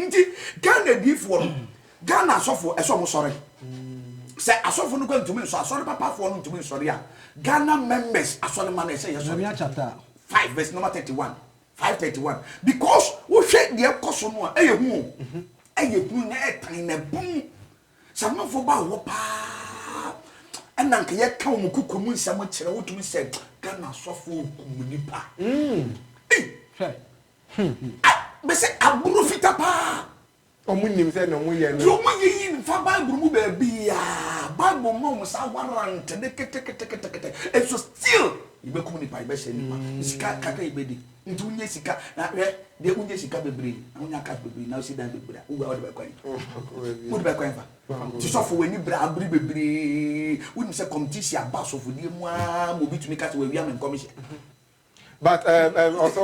nti ghana adiifoɔ no ghana asɔfoɔ ɛsɛ ɔmo sɔre sɛ asɔfoɔ no kɔ ntumi nsɔ asɔre papafoɔ no ntumi nsɔre a ghana members asɔre ma no ɛsɛ yɛ sɔre five verse number thirty one five thirty one because wohwɛ deɛ ɛkɔ so no a ɛyɛ hu o ɛyɛ hu na ɛtan na ɛbum Sɛ amanfoɔ ba wɔ hɔ paa ɛna nka yɛka wɔn koko mu nsɛm kyerɛ wotumi sɛ Ghana asɔfoɔ kum nipa. Mese aburo fita paa. Wɔn nim sɛ na wɔn yɛ no. Deɛ wɔn yɛ yi nfa Bible mu baabi a Bible ma wɔn saa warrant ne keteketekete nso still yɛbɛkum nipa yɛbɛhyɛ nipa sika kakra yɛbɛdi. Nti wo nya sika na hwɛ deɛ wo nya sika bebree na wo nya cash bebree na wo si dan bebree a wo wura wo de bɛ kɔ ɛyi wo de bɛ kɔ ɛfa ti sɔfo wɔ ani bere abiri bebree wo nim sɛ competition aba sɔfo die mu aa ma obi tumi kasa wɔ awia me nkɔm hyɛ but ɛɛ ɛɛ ɔsɔ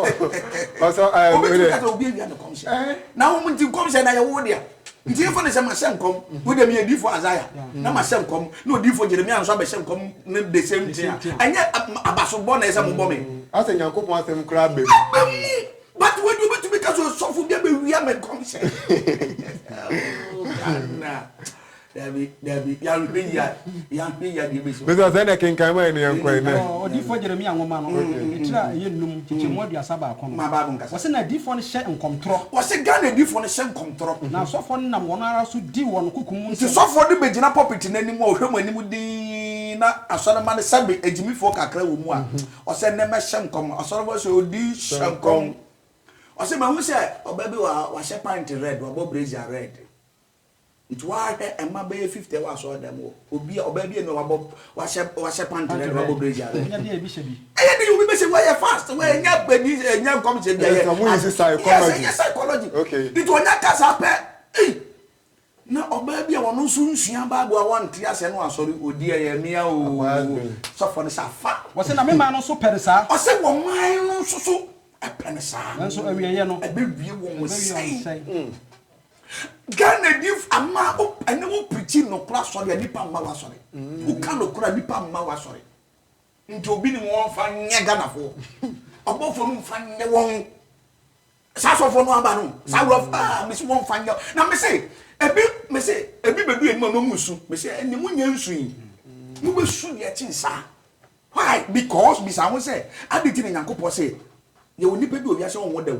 ɔsɔ ɛɛ obi tumi kasa obi awia me nkɔm hyɛ na wɔn nti nkɔm hyɛ na yɛ wo deɛ. Ntiefo ne sɛ mahyɛ nkɔm wo dɛ meyɛ difo Isaiah na mahyɛ nkɔm na odifo Jeremiah nso abɛhyɛ nkɔm no the same thing a ɛnyɛ abasobɔ na ɛsɛ mobɔ me. Asɛ Nyankopɔn asɛm koraa ba mu. Ɛba mu but wei deɛ obetumi ka sɛ osɔfo bi abɛwia me nkɔmhyɛ oh Ghana Dabi, dabi, yɛanhwɛ yie a, yɛanhwɛ yie a deɛ ɛbɛsi hɔ. Bisa sɛ ɛnɛ kenkan ma ɛne yɛnkɔ ɛnɛ. Ɛwɔ odiyifoɔ Jeremia nwoma no ne tiri a ɛyɛ nnum, nkyekyɛmu aduasa baako no. Ma Bible nkasa. Wɔse na adiyifoɔ no hyɛ nkɔmtorɔ. Wɔse Ghana adiyifoɔ no hyɛ nkɔmtorɔ. Na asɔfoɔ no nam wɔn ara so di wɔn koko mu nsɛm. Nti sɔfoɔ no bɛgyina pulpit no anim a ɔhwɛ mo anim dinn na asɔremma no sɛbe agyimifoɔ kakra wɔ mu a, ɔse ɛnnɛ mɛhyɛ nkɔm. Asɔremma no se odi hyɛ nkɔm. Ɔse mahu sɛ ɔbaa bi wɔ ha, wahyɛ pant red, wabɔ brazier red. Nti woahwɛ mma bɛyɛ fifty wɔ asɔɔdɛm hɔ, obi a ɔbaa bi eni wabɔ wahyɛ wahyɛ panty dɛdɛ wabɔ brace yɛ abɛn. Enya bi a ebi hyɛ bi. Ɛyɛ den obi bɛhyɛ bi wayɛ fast wɛ nya bɛdi nya nkɔm sɛ bi ayɛ. Ɛsɛ mo use psychology. Yes ɛyɛ psychology. Okay. Nti ɔnya kasa pɛ ei na ɔbaa bi a ɔno nso nsua bible a wɔnte asɛ no asɔre odi ɛyɛ mea oo sɔfo no sɛ afa. Wɔsɛ na me man no nso pɛ no saa. Ɔsɛ wɔn man no nso so ɛpɛ no saa. Nanso awieɛ no. Ɛbɛwie wɔn sɛn. Ghana ni ama wo ɛne wo pirikyi nokora asɔre a nipa mma w'asɔre. Woka nokora nipa mma w'asɔre. Nti obi ni wɔn fa nyɛ Ghana foɔ. Ɔbɔfoɔ no nfa nyɛ wɔn. Saa asɔfoɔ no aba no. Saa wura fo aa mesi wɔn fa nyɛ. Na mesi ebi mesi ebi bedu yɛn mu na ɔmo nsu. Mesi ɛne mo nyɛ nsu yi. Mo bɛ su deɛ kyen saa. Why? Because bisa ho sɛ adi ti na Nyankopɔn sɛ yɛ wɔ nipa bi wɔ wiase a ɔnwɔ dɛw.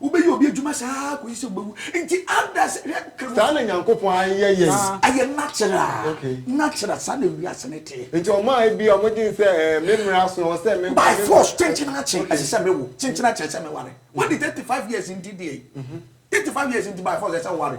Wobɛyɛ obi adwuma saa ara kɔsi sɛ wobɛwu. Nti ada sɛ hwɛ ka. Saa na Nyankopɔn ayɛ yɛn. Ɛyɛ natural. Okay. Natural, saa na wiase no teɛ. Nti wɔn a ebia wɔdwen sɛ ɛɛ me mmere aso, ɛwɔ sɛ me. By force, kyenkyen akye, ɛsɛ sɛ mewo, kyenkyen akye, ɛsɛ sɛ meware. Wɔde thirty five years nti deɛ yi, thirty five years nti by force ɛsɛ sɛ woware.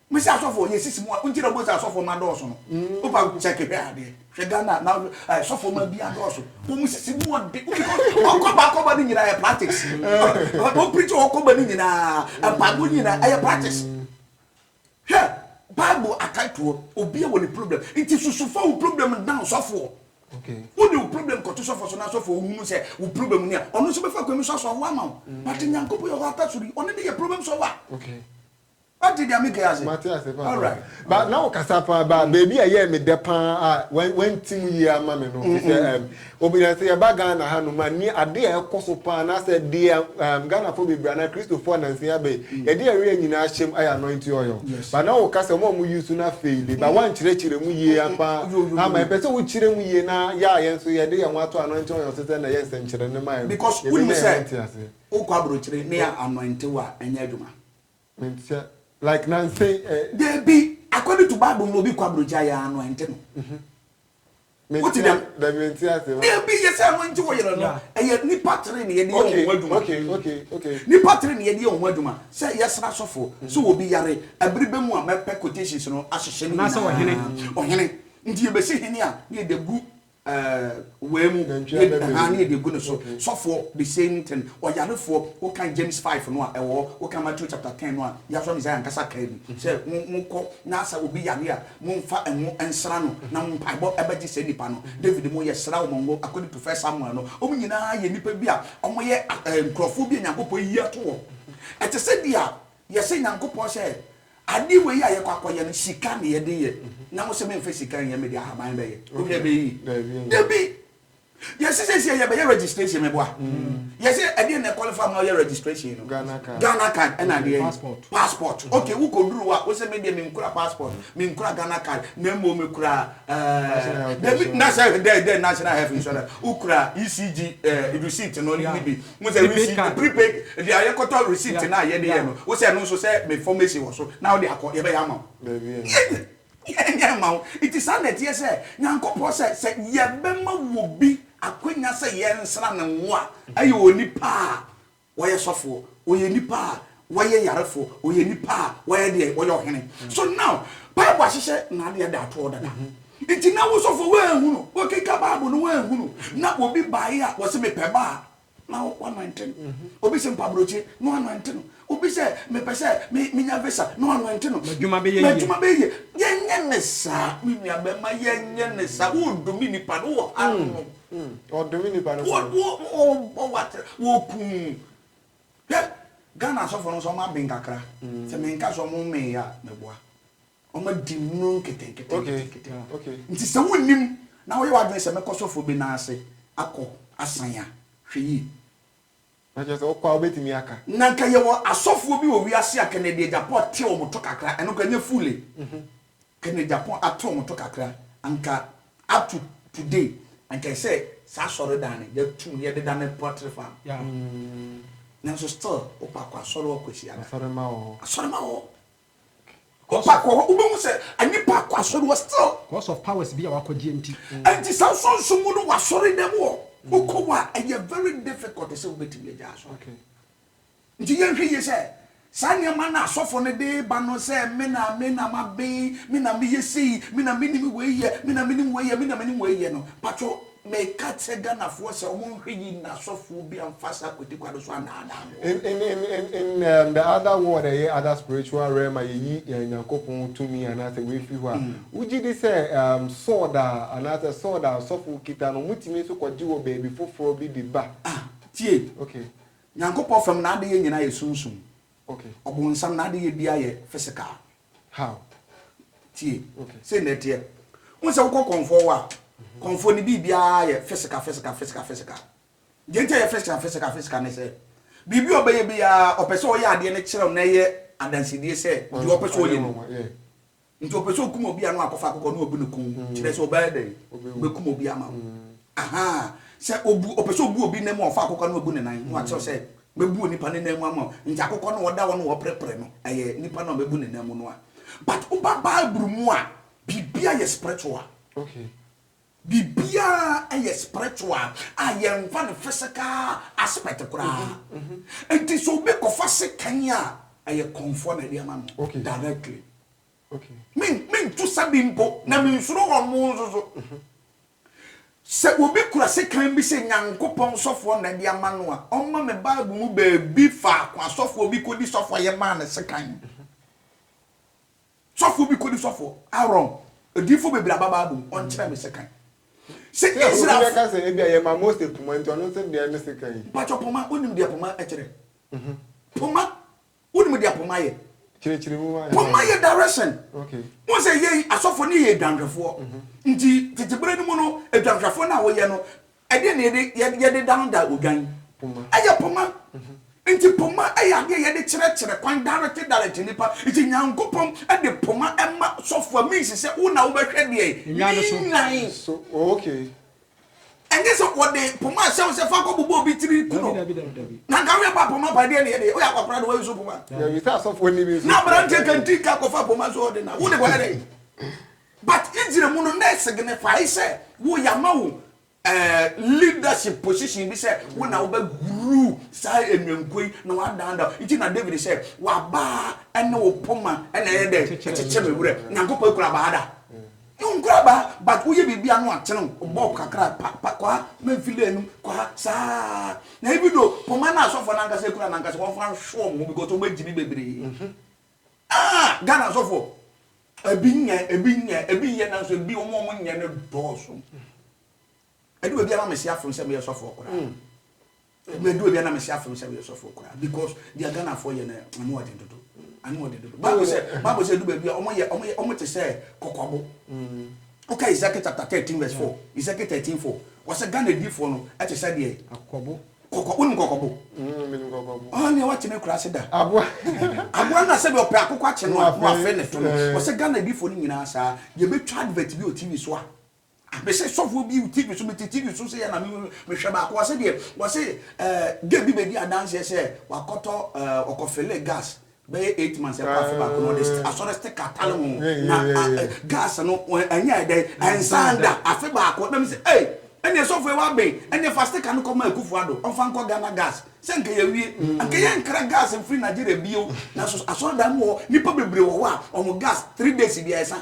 Mese asɔfoɔ yɛ sisi mu a nti na ɔbɔ sɛ asɔfoɔ ma dɔɔso no wopa sɛ kehwɛ adeɛ hwɛ Ghana na asɔfoɔ ma bi adɔɔso wɔn sisi mu ɔde wɔn kɔba akɔba ne nyinaa yɛ practice wɔn pirikyi wɔn kɔba ne nyinaa mpaebɔ nyinaa ɛyɛ practice hwɛ bible akatoɔ obi wɔ ne problem nti susufa wo problem na ɔsɔfoɔ wo de wo problem kɔto sɔfoɔ so na asɔfoɔ ohunu sɛ wo problem ni a ɔno nso bɛfa kwan mu sɔ asɔfoɔ ama wo but nyankopɔ yɛ hɔ ata sori ɔno ne yɛ problem solver. Okay. Wate deɛ meke ase? Mate ase paa. Alright. Ba na wo kasa paa ba mm. baabi a yɛ me dɛ paa a wan ti mu yie ama me no. Te sɛ ɛm obi yɛ sɛ yɛba Ghana ha no ma ni ade a ɛkɔ so paa na sɛ deɛ ɛm Ghanafoɔ bebree anaa Kristofoɔ nansi abɛ mm. yɛde ɛreɛ nyinaa ahyɛm ayɛ anointing oil. Ba na wo kasa wɔn a wɔn use na fei de ba mm. wɔn kyerɛkyerɛ mu yie paa ama ɛpɛ sɛ wo kyerɛ mu yie na yɛ a yɛn nso yɛde yɛn ho ato anointing oil so sɛ na yɛ nsɛnkyerɛ ne ma yɛ no. Because wuli mu sɛ wokɔ aburokyire ne yɛ anointing wa ɛnyɛ adwuma. Mentia like nansa yi eh. Dabi according to bible no obi kɔ abrogya yɛ ano ɛnte no. Wote dɛm? Dabi mentia ase. Dabi yɛ sɛ ɛno nti wo yere no ɛyɛ nipa tere na yɛde yɛ wɔn ho adwuma. Okay okay okay. Nipa tere na yɛde yɛ wɔn ho adwuma sɛ yɛsra sɔfo sɛ obi yare ɛbere bɛ mu a mɛpɛ quotations no ahyehyɛ ne nyinaa. Ɔhene. Ɔhene nti yɛbɛsi hene a na yɛde agu Wei mu ha ne yɛde gu ne so sɔfoɔ the same thing ɔyarefoɔ woka James 5 no a ɛwɔ hɔ woka Matthew chapter 10 no a yɛasɔ Messiah ankasa kaa bi sɛ monkɔ na sɛ obi yare a momfa ɛho nsra no na mo mpaebɔ ɛbɛgye sɛ nipa no David mo yɛsra wo mɔngo according to first Samuel no wɔn nyinaa yɛ nipa bi a wɔyɛ nkurɔfoɔ bi a Nyankopɔn yi ato wɔn ɛte sɛ bi a yɛsɛ Nyankopɔn sɛ Ade wei a yɛkɔ akɔyɛ no, sika na yɛde yɛ. Na wo sɛ memfa sika nyɛ, mede ahaban bɛyɛ. Wohu nea ɛbɛyɛ yi? Dabi! Yɛse seesei yɛbɛyɛ registration, meboa? Yɛse ɛdeɛn na ɛqualify ma woyɛ registration no? Ghana card. Ghana card ɛna adeɛn? Passport. Passport. Okay, wokɔduru hɔ a, wo sɛ medeɛ menkura passport, menkura Ghana card, na mmom mekura ɛɛɛ, dabi, na sɛ dɛn, dɛn, National Health Insurance, wokura ECG ɛɛɛ receipt no ne bi. Mo sɛ receipt Rebecca. prepaid deɛ a yɛkɔtɔ receipt Yeah, no a yɛde yɛ yeah. no wo sɛ ɛno nso sɛ me formation wɔ so na wode akɔ yɛbɛyɛ ama wo. Daabi ɛnyɛ Yɛn hwee. yɛnyɛ mma wo. Nti saa na ɛteɛ sɛ Nyankopɔn sɛ sɛ yɛbɛma obi akwanya sɛ yɛnsra no ngo a ɛyɛ onipa a wayɛ sɔfoɔ, ɔyɛ nipa a Wɔyɛ yarefo, wɔyɛ nnipa a wɔyɛ deɛ wɔyɛ ɔhene. So now bible ahyehyɛ n'adeɛ da toɔ dada. Nti na wo sɔfo wanhu no, wokenka bible no wanhu no, na obi baeɛ a wɔse mepɛ ba a na w'anointe no. Obi se mpabrɔkyire na w'anointe no. Obi sɛ mepɛ sɛ menya visa na w'anointe no. M'adwuma bɛyɛ yie. M'adwuma bɛyɛ yie. Yɛnyɛ ne saa me nua bɛma yɛnyɛ ne saa. Wodome nnipa no wɔ ha nom. Wɔdome nnipa no saa. Wɔbɔ w'atere, wɔku wo. Hwɛ! Ghana asɔfo no nso wɔn aben kakra. Sɛ me nka sɛ wɔn mmee a, me boa. Wɔn adi nnuro nketenkete. Nti sɛ wonnim na woyɛ w'adwene sɛ mɛkɔ sɔfo bi nan ase akɔ asan a, hwɛ yie. Na kyerɛ sɛ wokɔ a wobɛtumi aka. Na nka yɛwɔ asɔfoɔ bi wɔ wiase a Kennedy Agyapong te wɔn to kakra. Ɛno koraa ɛnyɛ full e. Kene Japan ato moto kakra anka up to today anka ɛsɛ saa asɔredan no yɛtum no yɛdeda no pottery farm nanso still wopɛ akɔ asɔre wɔ Kwasiada asɔrema wɔ hɔ asɔrema wɔ hɔ wopɛ akɔ hɔ wobɛhu sɛ nnipa akɔ asɔre wɔ still because of powers bi a wakɔgyeɛ nti ɛnti saa nsonso mu no wasɔre dɛm wɔ wokɔ wɔ a ɛyɛ very difficult sɛ wobɛtumi agya asɔre. Enti yɛnhwɛ yie sɛ saa nneɛma no a asɔfoɔ no de reba no sɛ me na me na maben, me na meyɛ sei, me na menim wei yɛ, me na menim wei yɛ, me na menim wei yɛ no, mpakyɛw meka kyerɛ Ghanafoɔ sɛ wɔnhwɛ yie na asɔfoɔ bi amfa saa kwatikwa no so annaadaa mo. In, in, in, in, in um, the other world, ɛyɛ other spiritual realm a yɛyi yɛn Nyankopɔn tumi anaasɛ wei firi hɔ a, Mm. wogye di sɛ um, sword a anaasɛ sword a asɔfo kita no, wɔtumi nso kɔgye wɔ baabi foforɔ bi de ba? Ah, tie. Okay. Nyankopɔn fam n'adeyɛ nyinaa yɛ sunsum. Ɔbonsam n'adeyɛ biara yɛ physical. How? Tie, sei na ɛteɛ. Wohu sɛ wokɔ kɔmfoɔ hɔ a, kɔmfoɔ no biribiara yɛ physical, physical, physical, physical. Deɛ nti a ɛyɛ physical, physical, physical ne sɛ, biribi a ɔbɛyɛ biara, ɔpɛ sɛ ɔyɛ adeɛ no kyerɛ wo na ɛyɛ adansedie sɛ deɛ ɔpɛ sɛ ɔyɛ no. Nti ɔpɛ sɛ ɔkum obi a na wakɔfa akokɔ na ɔbu no kum kyerɛ sɛ ɔbɛyɛ dɛn? Ɔbɛkum obi ama wo. Aha, sɛ ɔbu, ɔpɛ sɛ ɔbu obi nan mu a ɔfa akokɔ na ɔbu ne nan na wakyerɛw sɛ mɛbu onipa ne nan mu ama wo. Nti akokɔ no a ɔda hɔ na ɔreprɛprɛ no, ɛyɛ nipa no a mɛbu ne nan mu no a. But woba Bible mu a, biribiara yɛ spiritual. Okay. Biribiara yɛ spiritual a yɛmfa no physical aspect koraa. Nti sɛ obi kɔfa sekan a, ɛyɛ kɔnfoɔ na ɛde ama no directly. Me mentu sa bi mpo na mensuro wɔn mo nso so. Sɛ obi kura sekan bi sɛ Nyankopɔn sɔfoɔ na ɛde ama no a, ɔmma me Bible mu baabi faako asɔfoɔ bi kɔdi sɔfoɔ a yɛmaa no sekan. Sɔfo bi kodi sɔfo Aaron, odiyifo bebree aba Bible mu, ɔnkyerɛ me sekan. Sɛ Israelfo. Yɛfo bi bɛka sɛ, ebia yɛma Mose poma nti, ɔno nso deɛ ne sekan yi. Mpatsɔ poma, wonim deɛ poma kyerɛ? Poma, wonim deɛ poma yɛ? Kyerɛkyerɛ mu ma yɛn. Poma yɛ direction. Okay. Wohu sɛ yɛn asɔfo no yɛ adwanhwɛfoɔ. Nti tete berɛ no mu no, adwanhwɛfoɔ no a wɔyɛ no, Ɛdeɛn na yɛde yɛ yɛde daadaa odwan? Poma. Ɛyɛ poma. Nti poma yɛ adeɛ a yɛde kyerɛkyerɛ kwan direct direct nnipa. Nti Nyankopɔn de poma ma sɔfo a means sɛ wo na wobɛhwɛ deɛn? Nnwan no so. Ne nnwan. So oh okay. Ɛnyɛ sɛ wɔde poma ahyɛ wo sɛ fa kɔ bobɔ obi tiri ku no. Dabi dabi dabi. Na nka woyɛ ba poma pa deɛ ne yɛde woyɛ akwakoraa de woyɛ so poma. Dabi sɛ asɔfoɔ ni bi nso. Na aberanteɛ kantinka akɔfa poma so ɔde na wode kɔyɛ dɛn? But Israel mu no na esignify sɛ wo yama wo eh, leadership position bi sɛ wo na wobɛ rule saa enwenko yi na wadan da nti na David sɛ wabaa ɛne wo poma ɛna ɛyɛ dɛ ɛkyekyɛ me werɛ Nyankopɔn ekura baa da no nkura baa but woyɛ biribi ano atene wo bɔb kakra pa pa kɔ ha mɛmfile anum kɔ ha saa na ebi do poma na asɔfoɔ no ankasa ekura no ankasa wɔmfa nhwe wɔn ho because wɔn agyi bi bebree ah Ghana asɔfoɔ Ebi nyɛ, ebi nyɛ, ebi yɛ nanso ebi wɔn a wɔn nyɛ no dɔɔso. Edu baabi a na mesi afem sɛ meyɛ sɔfoɔ koraa. Ebi edu baabi a na mesi afem sɛ meyɛ sɔfoɔ koraa because deɛ Ghanafoɔ yɛ no ano wɔ den dodo, ano wɔ den dodo. Bible sɛ, oh. Bible sɛ edu baabi a wɔn yɛ, wɔn yɛ, wɔn te sɛ kɔkɔbo. Woka mm. Ezekiel chapter thirteen verse four, Ezekiel thirteen four, wɔsɛ Ghana difoɔ no ɛte sɛ deɛ. Akɔbo. Kɔkɔ wonim kɔkɔbo? Mm, menim kɔkɔbo. Ah, nea wate me kura ase da. Aboa. Aboa na sɛbi ɔpɛ akokɔ akye no a, mo afei ne to no. Eh. Ɔsɛ Ghana adifo no nyinaa saa. Yɛ bɛ twa advert bi wɔ TV so a. Mese sɔfoɔ bi TV so mete TV so seyɛ na mehwɛ baako ɔse deɛ ɔse eh, gay bi bɛdi adanseɛ sɛ wakɔtɔ eh, ɔkɔfele gas Bɛyɛ eight months ɛkɔ afe baako na ɔde st asɔre sticker tale ho na gas no ɛnyɛ ɛdɛ ɛnsan da afe baako ɛbɛn mi sɛ ɛy ɛnna ɛsɔfo ɛwɔ abɛn ɛnna ɛfa sticker no kɔ ma Akufo Addo ɔnfa nkɔ Ghana gas sɛ nka yɛ wie nka yɛ nkra gas nfiri Nigeria bio na so asɔre dan mu wɔ hɔ nipa bebree wɔ hɔ a wɔn gas three days bia ɛsan.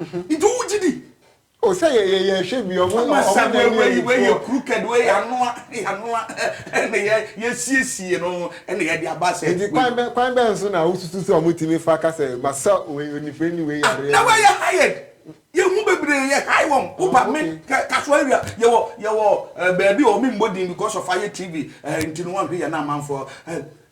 Nti wo gye di? O sɛ yɛ yɛ yɛ hwɛ bi ɔmo ɔmo na ɛni ɛni ɛni wei yɛ crooked wei yɛ anoa yɛ anoa ɛna yɛ yɛ siesie no ɛna yɛ de aba sɛ. Nti kwan bɛ kwan bɛn so na wo susu sɛ ɔmo tumi fa ka sɛ ma sɛ wei onifirani ni wei yareɛ. Na wei yɛ hired yɛ hu bebree yɛ hire wɔn wo ba me kɛ kaso awia yɛ wɔ yɛ wɔ ɛɛ baabi ɔmo mbɔ din because of ayɛ tv ɛɛ nti no wɔn hwɛ yɛ na amanfoɔ ɛɛ.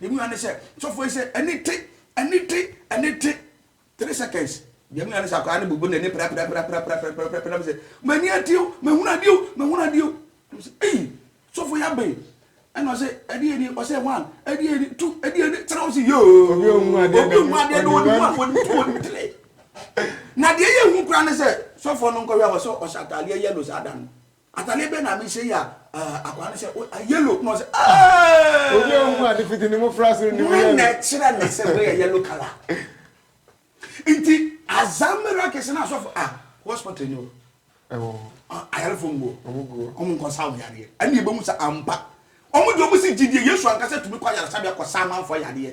Deɛ menya ne sɛ sɔfoɔ yi sɛ ɛni te ɛni te ɛni te three seconds deɛ menya ne sɛ akwadaa no bubu n'ani prapiraprapiraprapiraprapira na me sɛ m'ani ate o mehunu adeɛ o mehunu adeɛ o na me sɛ ei sɔfoɔ yi abɛn ɛna ɔsɛ ɛdeɛ ni ɔsɛ one ɛdeɛ ni two ɛdeɛ ni three ɔsɛ yoo obi ohun adeɛ obi ohun adeɛ do ɔdi one ɔdi two ɔdi three na deɛ yɛ hu kura ne sɛ sɔfoɔ no nkɔhwɛ a ɔsɛ ɔhyɛ ataadeɛ yellow saa da no. Atade bɛn na mehyɛ yi a uh, akwaa no sɛ uh, yellow na ɔsɛ uh, obi a ɔhu ade fiti ne mmofra so nim yellow na ɛkyerɛ ne sɛ wei yɛ yellow color nti azamera kɛse na asɔfo ah hospital ni o ɛwɔ ayarefo nguo wɔn nkɔsa wɔn yadeɛ ɛna ebi mu sɛ ampa wɔn deɛ wɔn si gyidie yesu ankasa tumi kɔ ayaresabea kɔ saa amanfoɔ yadeɛ.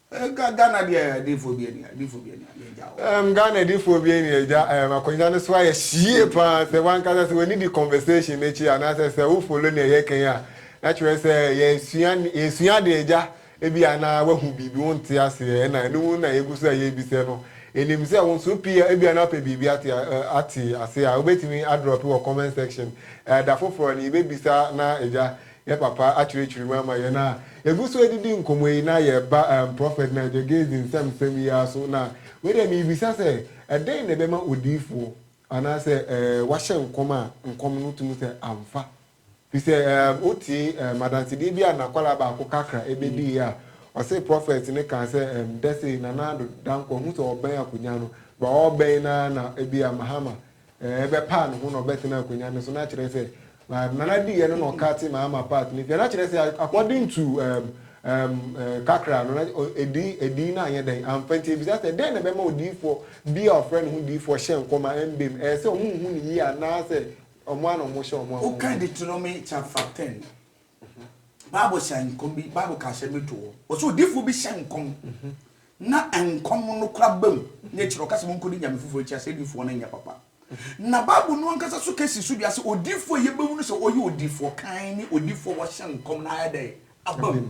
Ɛka Ghana deɛ adiifoɔ bi ani adiifoɔ bi ani a yɛ gya o. Um Ghana adiifoɔ bi ani agya um akonnwa no so ayɛ hyie paa sɛ wankasa sɛ w'ani di conversation no akyi anaasɛ sɛ wo follow nea yɛ kan a na kyerɛ sɛ yɛ sua yɛ sua adeɛ agya ebi a na wahu biribi wo nte aseɛ ɛna ɛno mu na yɛ gu so a yɛ bisɛ no yɛ nim sɛ wo nso pii a ebi a na wopɛ biribi ate uh ate aseɛ a wobɛtumi adrɔpe wɔ comment section uh da foforɔ no yɛ bɛ bisa na agya Yɛ papa akyerɛkyerɛ mu ama yɛn a yɛgu so ɛdidi nkɔmɔ yi na yɛ ba ɛɛm Prophet Nigel Gay's nsɛm nsɛm yi ara so na wei deɛ merebisa sɛ ɛdɛn na ɛbɛma odiyifoɔ anaa sɛ ɛɛ wahyɛ nkɔm a nkɔm no tumi sɛ amfa firi sɛ ɛɛm wotie ɛɛm adansedeɛ bi a nakwadaa baako kakra ɛbɛdii a ɔse Prophet no kaa sɛ ɛɛm dɛsɛ Nana Addo Dankwa ɔhu sɛ ɔbɛn akonya no but ɔrebɛn no ara na ɛbi a Mahama bɛpaa ne ho na ɔbɛtena akonya no so na kyerɛ sɛ nana di yɛ no na ɔka te maa ama part ne fia na kyerɛ sɛ according to um, um, uh, kakra no na ɛdi ɛdi na anyɛ dɛn amfa nti ebisa sɛ dɛn na ɛbɛma odiifoɔ bi a ɔfrɛ ne ho diifoɔ hyɛ nkɔm a ɛmbem ɛyɛ sɛ ɔmo nhu ne yie anaasɛ ɔmo a na ɔmo hyɛ ɔmo a ɔmo. Woka de toro me chapter ten Bible hyɛ nkɔm bi, Bible ka asɛm bi to hɔ. Wɔsɛ odiifoɔ bi hyɛ nkɔm na nkɔm no kora ba mu na akyire ɔka sɛ monkɔdi nyame foforɔ akyi asɛdifoɔ no nyɛ papa. Na Bible no ankasa so kɛsi so dua sɛ odiifoɔ a yɛbɛhu no sɛ ɔyɛ odiifoɔ kann ne odiifoɔ a wɔhyɛ nkɔm na ayɛ dɛn aba mu.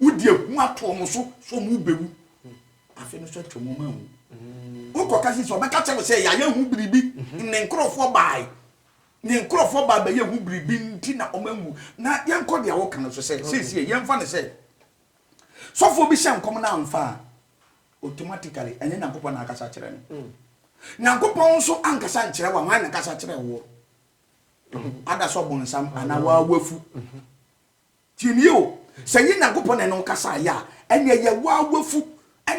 Wodi ehu ato wɔn so sɛ wɔbɛwu. Afe no so atwam wɔn anwu. Mm. Wokɔka sisi ɔbɛka kyerɛ wo sɛ yɛayɛ ho biribi mhm. ne nkurɔfoɔ bae ne nkurɔfoɔ bae bɛyɛ ho biribi nti na wɔn anwu na yɛnkɔ deɛ woka no so sɛ seesie yɛmfa no sɛ sɔfoɔ bi hyɛ nkɔm no amfa a automatically ɛnyɛ nyankopɔn na akasa kyerɛ no mm. nyankopɔn nso ankasa nkyerɛ wa hwan na kasa kyerɛ woɔ mhm. ada sɛ ɔbɔnsam anaa waawafu mhm. Tie me o, sɛ ɛnyɛ Nyankopɔn na ɛne wo kasaeɛ a, ɛnneɛ ɛyɛ wo ara w'afu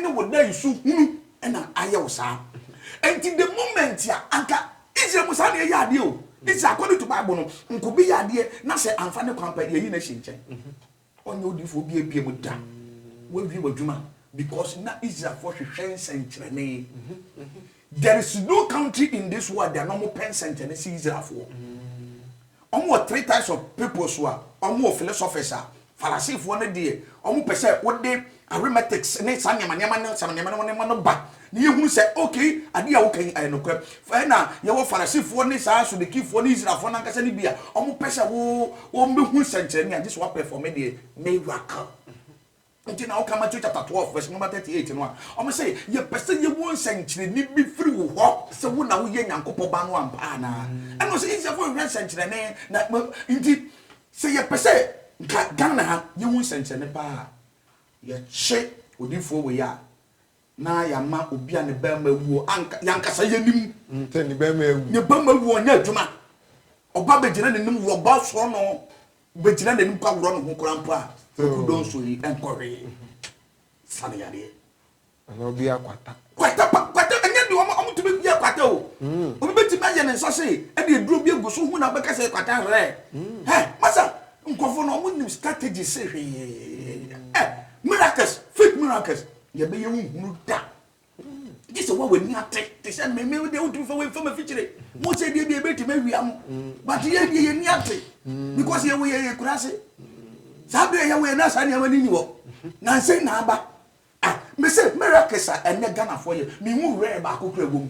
ne wo da nsu hunu na ayɛ wo saa. Enti the moment a, anka Israel mu saa na yɛyɛ adeɛ o. Israel according to Bible no, nka obi yɛ adeɛ na sɛ amfa ne kwan pɛ, yɛyi no ahye nkyɛn. Ɔnyɛ odiyifoɔ biara bia mu da, woawie w'adwuma because na Israelfoɔ hwehwɛ nsɛnkyerɛnne. There is no country in this world a na wɔpɛ nsɛnkyerɛnne sɛ Israelfoɔ. Ɔmo wɔ three types of peoples a, ɔmo wɔ philosophers a, Phariseefoɔ no deɛ ɔmo pɛ sɛ wode arithmetics ne saa nneɛma nneɛma ne saa nneɛma nneɛma nneɛma no ba na yɛhunu sɛ okay adeɛ a woka yi ɛyɛ nokorɛ. Ɛna yɛwɔ Phariseefoɔ ne saa Sudukifoɔ ne Israelfoɔ no ankasa no bi a, ɔmo pɛ sɛ wo wɔn bɛhunu sɛnkyerɛnne a gye sɛ woapɛfɔme deɛ miracle. Nti na ɔka Matthew chapter twelve verse number thirty eight no a, ɔmo se, Yɛpɛ sɛ yehu nsɛnkyerɛnne bi firi wo hɔ sɛ wo na woyɛ Nyankopɔn Ba no ampa anaa. Ɛna ɔse Israelfoɔ nhwehwɛ nsɛnkyerɛnne, na mo nti sɛ yɛpɛ sɛ nka Ghana ha yehu nsɛnkyerɛnne paa a, yɛkye odiyifoɔ wei a Na yɛama obi a ne barima awu o, anka, yɛn ankasa yɛnim. Sɛ ne barima awu. Ne barima awu, ɔnyɛ adwuma. Ɔba bɛgyina n'anim, wɔba sɔ no, bɛgyina n'anim kɔ aworɔ ne ho koraa mpo a, Kwaku Donso yi nkɔ hwee. Sa no yadeɛ. Anaa obi akwata. Kwata pa, kwata, ɛnyɛ deɛ wɔn, wɔtumi yɛ kwata o. Obi bɛtumi ayɛ ne nsa se, ɛde aduro bi agu so, hu na wobɛka sɛ ɛyɛ kwata hɛ. Hɛ, masa, nkurɔfoɔ no, wɔnim strategy se hwee. Ɛ, miracles, fake miracles. Yɛbɛyɛ wo nhunu da. Gye sɛ woa w'ani ate te sɛ me me deɛ wotumi fa wei fa m'afikyire mo sɛ deɛ deɛ ɛbɛtumi awia mo but yɛ deɛ yɛni ate because yɛwɔ yɛ yɛ kura se saa berɛ yɛwɔ yɛ na saa nneɛma no ni hɔ nansɛn na aba ah me sɛ miracle sa ɛnɛ Ghanafoɔ yɛ me hu rare baako kura wɔ mu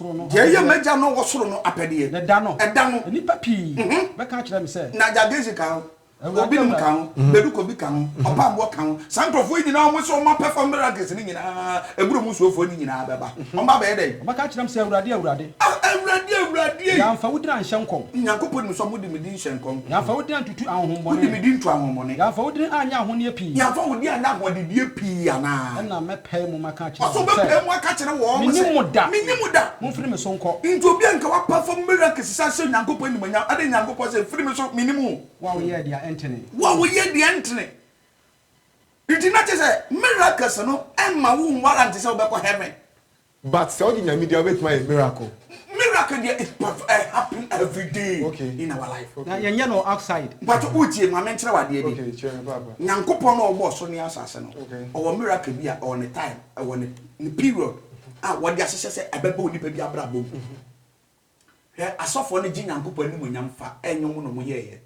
Deɛ ɛyɛ m'Agya no wɔ soro no apɛdeɛ. Ne da no, Ɛda no. nnipa pii bɛka akyerɛ me sɛ. Na Gyagesi ka ho, Awurade, Obinom ka Awurade. ho, Bedukobi ka ho, Ɔpamboɔ ka ho. Saa nkurɔfoɔ yi nyinaa, wɔn sɛ wɔn apɛfa miracles no nyinaa, Abura mu nsuofoɔ no nyinaa bɛba. Wɔn abɛyɛ dɛn? Wɔbɛka akyerɛ me sɛ, Awurade, Awurade. Ah, Awurade, Awurade. Yɛamfa wo din anhyɛ nkɔm. Nyankopɔn nim sɛ wɔde me din. hyɛ nkɔm. Yɛamfa wo din antutu ahonhommɔne. Wode me din to ahonhommɔne. Yɛamfa wo din anyɛ ahonneɛ pii. Yɛamfa wo din anyɛ ahoɔdenneɛ pii anaa? Ɛnna mɛpae mu maka akyerɛ wɔn sɛ. Ɔsɛ ɔbɛpae mu aka akyerɛ wɔn sɛ. Mennim mo da. Mennim mo da. Momfiri me so nkɔ. Nti obi a nka wapa fam miracles sɛ ahyɛ Onyankopɔn animuonyam, adɛn Nyankopɔn sɛ, Firi me so, mennim wo. Wo a woyɛɛ deɛ ɛntene. Wo a woyɛɛ deɛ ɛntene. Nti na kyerɛ sɛ miracles no mma wo nwarrant sɛ wobɛkɔ heaven. But sɛ wogye Nyame di a wobɛtumi ayɛ miracle. Miracle deɛ it perf eh happen everyday Okay in our life. Na Okay. yɛnyɛ no outside. Mpakyɛ wotie ma menkyerɛ wo adeɛ bi. Okay kyerɛ me paapa. Nyankopɔn no a ɔbɔɔ soro ne asase no Okay. ɔwɔ miracle bi a ɔwɔ ne time ɛwɔ ne ne period a wɔde ahyehyɛ sɛ ɛbɛba onipa bi abrabɔ mu. Hwɛ asɔfoɔ no gye Nyankopɔn animuonyam fa ɛnwom no ɔmo yɛɛyɛ.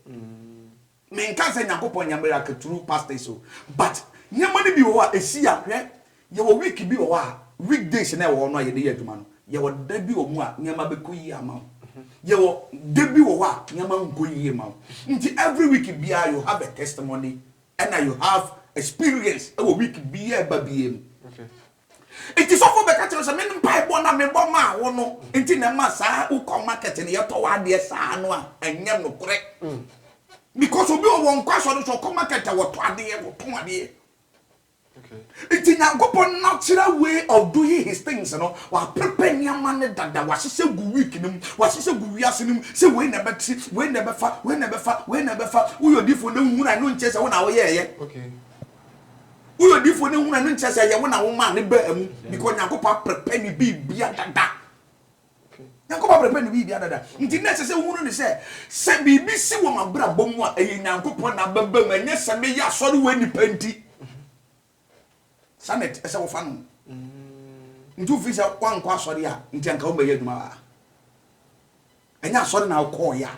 Me nka sɛ Nyankopɔn nyɛ miracle through pastors o but nneɛma no bi wɔ hɔ a ɛsi a hwɛ yɛwɔ week bi wɔ hɔ a week days na ɛwɔ hɔ no a yɛde yɛ adwuma no yɛwɔ da bi wɔ mu a nneɛma bɛkɔ yie ama wo yɛwɔ da bi wɔ hɔ a nneɛma nkɔ yie ma wo nti every week biara you have a testimony ɛna you have experience ɛwɔ week biara ɛba biara mu. Okay. Nti sɔfo bɛka kyerɛ sɛ me mpaebɔ na mebɔ maa wo no nti na ɛma saa wokɔ market no yɛtɔ w'adeɛ saa no a ɛnyɛ nokorɛ because obi wɔ wɔn kɔ asɔre so ɔkɔ market a wɔtɔ adeɛ wɔtɔn adeɛ nti nyankopɔn natural way of doing his things no waprepare nneɛma no dada wahyehyɛ gu week no mu wahyehyɛ gu wiase no mu sɛ wei na ɛbɛte wei na ɛbɛfa wei na ɛbɛfa wei na ɛbɛfa woyɛ odifoɔ na wohunu a ɛno nkyɛ sɛ wo na woyɛɛyɛ okay Woyɛ odiifoɔ no hunu a ne nkyerɛ sɛ ɛyɛ wo na womaa ne baa mu because Nyankopɔn aprepɛ ne biribia dada. Nyankopɔn aprepɛ ne biribia dada. Nti na ɛsɛ sɛ wohunu ne sɛ sɛ biribi si wɔ m'abrabɔ mu a ɛyɛ Nyankopɔn na abɛba mu ɛnyɛ sɛ meyɛ asɔre wɔ nnipa nti. Saa na ɛsɛ wofa no. Nti wofi sɛ woankɔ asɔre a nti anka wommɛyɛ adwuma a ɛnyɛ asɔre na wokɔɔyɛ a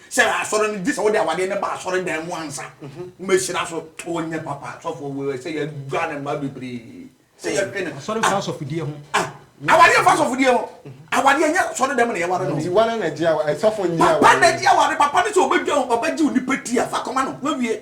Hyɛ asɔre no gye sɛ wode awadeɛ no ba asɔre dan mu ansa wobɛhyira so. Ɔnyɛ papa sɔfoɔ wei sɛ yɛdwa ne mma bebree sɛ yɛtwe ne. Asɔre mfa asɔfodie ho. Awadeɛ mfa asɔfodie ho. Awadeɛ nyɛ asɔre dan mu na yɛware no. Nti wane na gye awadeɛ sɔfo nni awadeɛ. Papa na gye awadeɛ papa ne sɛ ɔbɛdwa ɔbɛgye onipa ti a fa kɔma no wawie.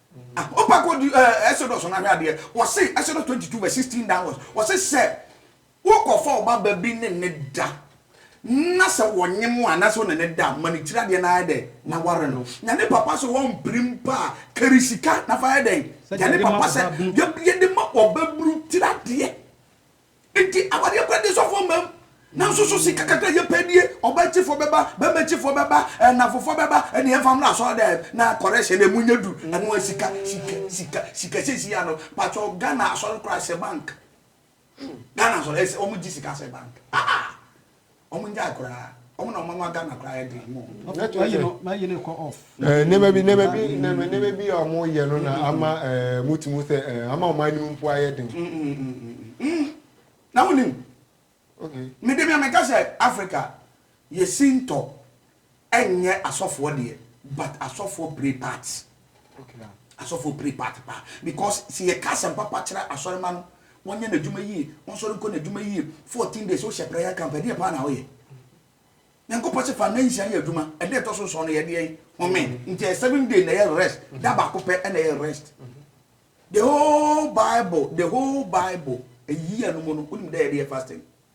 Ah, wo pa ko di eh, Exodus na hwɛ adeɛ. Wɔse Exodus 22 verse 16 downwards. Wɔse sɛ wokɔfa wo ba ba bi ne ne da na sɛ wɔnye mo a na sɛ wo ne ne da ma ne tiri adeɛ na ayɛ dɛ na ware no. Nya ne papa sɛ wɔmpere mpo a kari sika na fa yɛ dɛn? Gya ne papa sɛ yɛde ma ɔbaburu tiri adeɛ. Enti awadeɛ kura de sɔfoɔ mmam. Nanso so sika kakra yɛ pɛ nie, ɔbaa akyifoɔ bɛba, bɛrima akyifoɔ bɛba, anafofoɔ bɛba, ɛne yɛmfa mmra asɔɔdɛm na correction ɛmu nyɛ du. Ɛno a sika, sika, sika, sika sɛsi yɛ ano. Patwɔ Ghana asɔre kura sɛ bank. Ghana asɔre ɛsɛ ɔmo gye sika sɛ bank. Ah ah. Ɔmo ngyae koraa. Ɔmo na ɔma ma Ghana koraa yɛ den mo. Mayi ne kɔ off. Ɛɛ nneɛma bi nneɛma bi nneɛma bi a ɔmo yɛ no na ama ɛɛ mo ti mu sɛ ɛɛ ama ɔmo anim mpo ayɛ den. Na wonim. Okay. Mede mi a meka sɛ Africa yɛ sintɔ Ɛnyɛ asɔfoɔ deɛ but asɔfoɔ play part asɔfoɔ play part paa because sɛ yɛ ka asɛm papa kyerɛ asɔrema no wɔn nyɛ n'adwuma yie wɔn sɔre nkɔ n'adwuma yie fourteen days wohyɛ prayer camp ɛdeɛ paa na ɔyɛ nyankopɔ se fa nna nsia yɛ adwuma ɛda ɛtɔ so nsɔn no yɛ deɛ home nti ɛyɛ seven day na ɛyɛ rest da baako pɛ ɛna ɛyɛ rest the whole bible the whole bible a year no mu no wonim dɛ yɛde yɛ fasting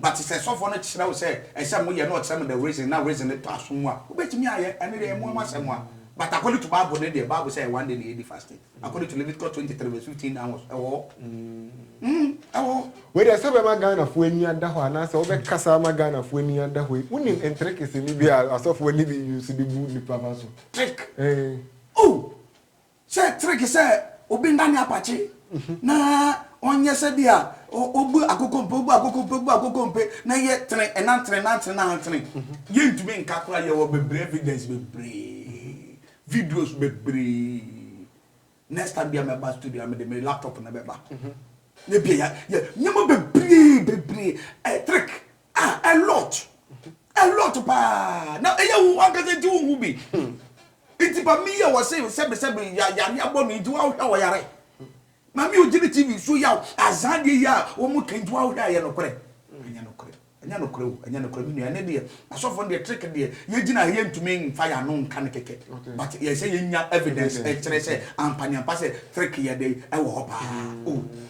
But sɛ sɔfoɔ no kyerɛ wo sɛ ɛsɛ mo yɛ na ɔkyerɛ mo the reason na reason no tɔ asom mu a wobɛtumi ayɛ ɛno deɛ ɛmoa mo asɛm a but according to bible no deɛ bible sɛ ɛyɛ one day na yɛdi fasting according to Leviticus twenty three verse fifteen downwards ɛwɔ hɔ mm ɛwɔ hɔ. Wei deɛ sɛ bɛma Ghanafoɔ ani ada hɔ anaasɛ wobɛkasa ama Ghanafoɔ ani ada hɔ yi wonim ntricks no bi a asɔfoɔ no bi use de bu nnipa fa so? Trick? Eeh. Ooh! Sɛ trick sɛ obi nna ne apakye na ɔnyɛ sɛ bi a obu akokompe obu akokompe obu akokompe na yɛ tene ɛnan tene nan tene nan tene yɛ ntumi nka kora yɛ wɔ bebree evidence bebree videos bebree next time bi a mɛba studio a mede me laptop na bɛba na bi a yɛ yɛ nneɛma bebree bebree ɛ trick Ah, a lot. A lot paa. Na ɛyɛ wo ankasa nti wo hu bi. Nti ba mi yɛ wɔ se sɛbi sɛbi ya yare abɔ no nti wa hwɛ wɔ yare. Ma mi ogyini TV so yaw azan deɛ yi a wɔn mo kɛn nti wa hwɛ ayɛ nokorɛ. Ɛnyɛ nokorɛ. Ɛnyɛ nokorɛ o. Ɛnyɛ nokorɛ mi nua. Ɛne deɛ asɔfo no deɛ trick deɛ yɛ gyina ha yɛ ntumi nfa yɛ ano nka no kɛkɛ. But yɛ sɛ yɛ nya evidence ɛkyerɛ sɛ ampa ne ampa sɛ trick yɛ de ɛwɔ hɔ paa. Oh.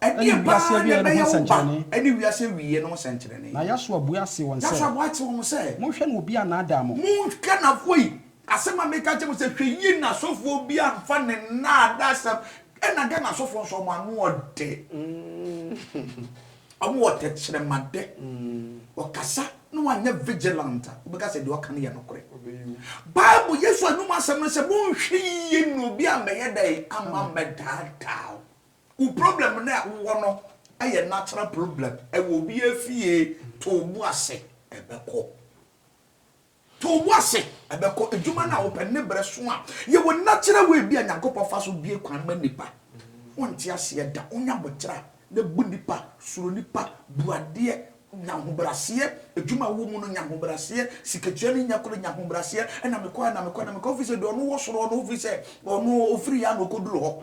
Ɛdeɛn paa na ɛbɛyɛ wo ba ne wiase awieɛ no ho sɛnkyerɛnne? Na Yahsua buaa see wɔn sɛ, Monhwɛ na obi annaadaa mo. Monhwɛ na afoi, asɛm a meka akyerɛ mo sɛ, hwɛ yie na asɔfoɔ bi amfa ne nnaadaasɛm, ɛna Ghana asɔfoɔ nso, wɔn ano ɔdɛ, wɔn wɔ tɛkyerɛmadɛ, wɔkasa na wɔanyɛ vigilant a, wobɛka sɛ deɛ ɔka no yɛ nokorɛ. Bible, Yesu anum asɛm no sɛ, Monhwɛ yie na obi ammɛyɛ dɛn? Amma ammɛdaadaa wo. Wo problem no a wo wɔ no yɛ natural problem ɛwɔ obiaa fie to wo bo ase ɛbɛkɔ to wo bo ase ɛbɛkɔ adwuma no a wo pɛ ne brɛ so a yɛ wɔ natural way bi a Nyankopɔn fa so bie kwan ma nipa wo nte aseɛ da wo nya botra na bu nipa suro nipa bu adeɛ nya ahobraseɛ adwuma wɔ mu no nya ahobraseɛ sikatua no nya koro nya ahobraseɛ ɛna mekɔ ɛna mekɔ ɛna mekɔ ofiri sɛ deɛ ɔno wɔ soro ɔno ofiri sɛ ɔno ofiri yɛ a na ɔkɔduru hɔ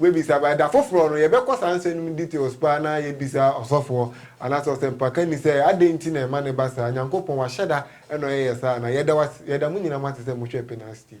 Wobɛbisa by da foforɔ no yɛbɛkɔ saa nsɛm no mu details paa na yɛabisa ɔsɔfoɔ anaasɛ ɔsɛmpakani sɛ adɛn nti na ɛma no ba saa Nyankopɔn wahyɛda na ɔyɛ yɛ saa anaa yɛda wase yɛda mo nyinaa mo ase sɛ mohwɛ Penas TV.